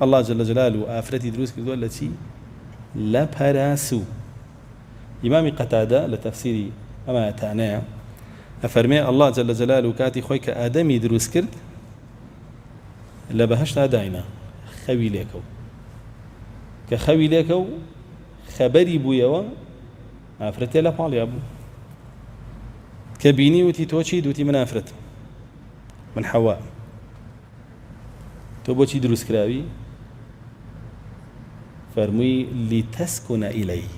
اللە جل جلالە ئافرەتی دروست کردووە لە چی؟ لە پەراسوو. ئیمامی قەتادە لە تەفسیری ئەم ئایەتانەیە ئەفەرمێ، اللە جل جلالە کاتی خۆی کە ئادەمی دروست کرد لە بەهەشتا داینا خەوی لێ کەوت کە خەوی لێ کەوت خەبەری بوویەوە ئافرەتێ لە پاڵیا بوو کە بینی وتی تۆ چیت وتی من ئافرەتم من حەوا تۆ بۆچی دروست کراوی؟ فەرمووی لیتەسکونە ئیلەیه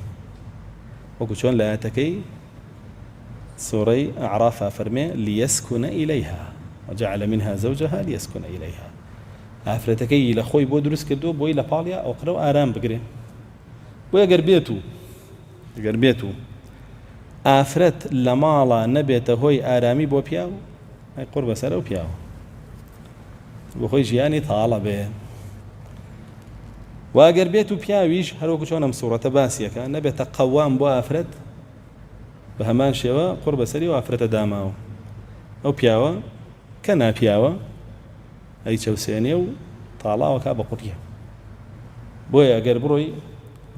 وەکو چۆن لە ئایەتەکەی سورەی اعراف ئەفەرمێ لیەسکونە ئیلەیها وجعل منها زوجها لیەسکونە ئیلەیها ئافرەتەکەی لە خۆی بۆ دروست کردووە بۆی لە پاڵیا ئەو قرە و ئارام بگرێ بۆ ئەگەر بێت و ئەگەر بێت و ئافرەت لە ماڵا نەبێتە هۆی ئارامی بۆ پیاو ئەی قوڕ بەسەر ئەو پیاوە بۆ خۆی ژیانی تاڵە بێ واگەر بێت و پیاویش هەروەکو چۆن ئەم سوڕەتە باسیەکە نەبێتە قەوام بۆ ئافرەت بە هەمان شێوە قوڕ بەسەری و ئافرەتە داماوە ئەو پیاوە کە ناپیاوە ئەی چەوسێنێ و تاڵاوەکە بە قوڕیە بۆیە گەر بڕۆی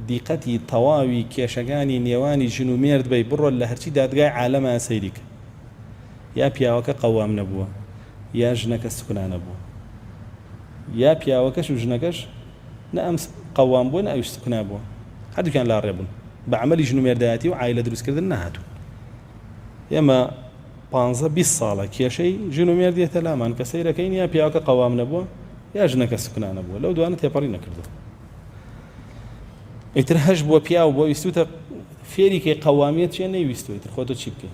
دیقەتی تەواوی کێشەکانی نێوانی ژن و مێرد بی بڕۆ لە هەرچی دادگای عالەمە سەیریکە یا پیاوەکە قەوام نەبووە یا ژنەکە سوکنا نەبووە یا پیاوەکەش و ژنەکەش نە ئەم قەوام بووە نە ئەویش سوکنا بووە هەردووکیان لاڕێ بوون بە عەمەلی ژن و مێردایەتی و عایلە دروستکردن نەهاتوون ئێمە پانزە بیست ساڵە کێشەی ژن و مێرد یەتە لامان کە سەیرەکەین یا پیاوەکە قەوام نەبووە یا ژنەکە سوکنا نەبووە لەو دوانە تێپەڕی نەکردووە ئیتر هەش بووە پیاو بووە ویستوتە فێری کەی قەوامیەت چیە نەیویستوە ئیتر خۆ تۆ چی بکەی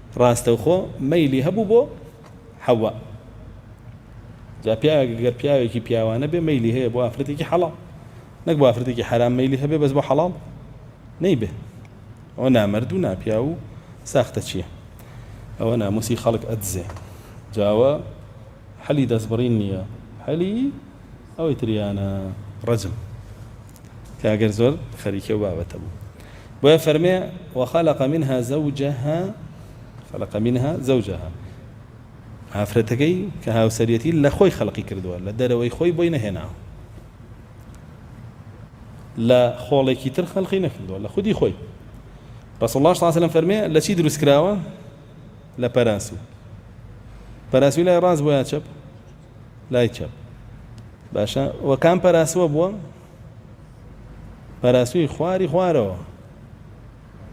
ڕاستەوخۆ مەیلی هەبوو بۆ حەوا جا پیاوێک گەر پیاوێکی پیاوانە بێ مەیلی هەیە بۆ ئافرەتێکی حەڵاڵ نەک بۆ ئافرەتێکی حەرام مەیلی هەبێ بەس بۆ حەڵاڵ نەیبێ ئەوە نامەرد و ناپیاو و ساختە چیە ئەوە ناموسی خەڵک ئەدزێ جاوە حەلی دەستبڕین نییە حەلی ئەوەی تریانە ڕەجم کاکە زۆر خەریکی ئەو بابەتە بوو بۆیە فەرمێ وخلق منها زوجها خلق منها زوجها ئافرەتەکەی کە هاوسەریەتی لە خۆی خەلقی کردووە لە دەرەوەی خۆی بۆی نەهێناوە لە خۆڵێکی تر خەلقی نەکردووە لە خودی خۆی رسول الله صلی الله علیه وسلم فەرمێ لە چی دروست کراوە لە پەراسو پەراسوی لای ڕاست بۆ یا چەپ لای چەپ باشە وە کام پەراسوە بووە پەراسوی خواری خوارەوە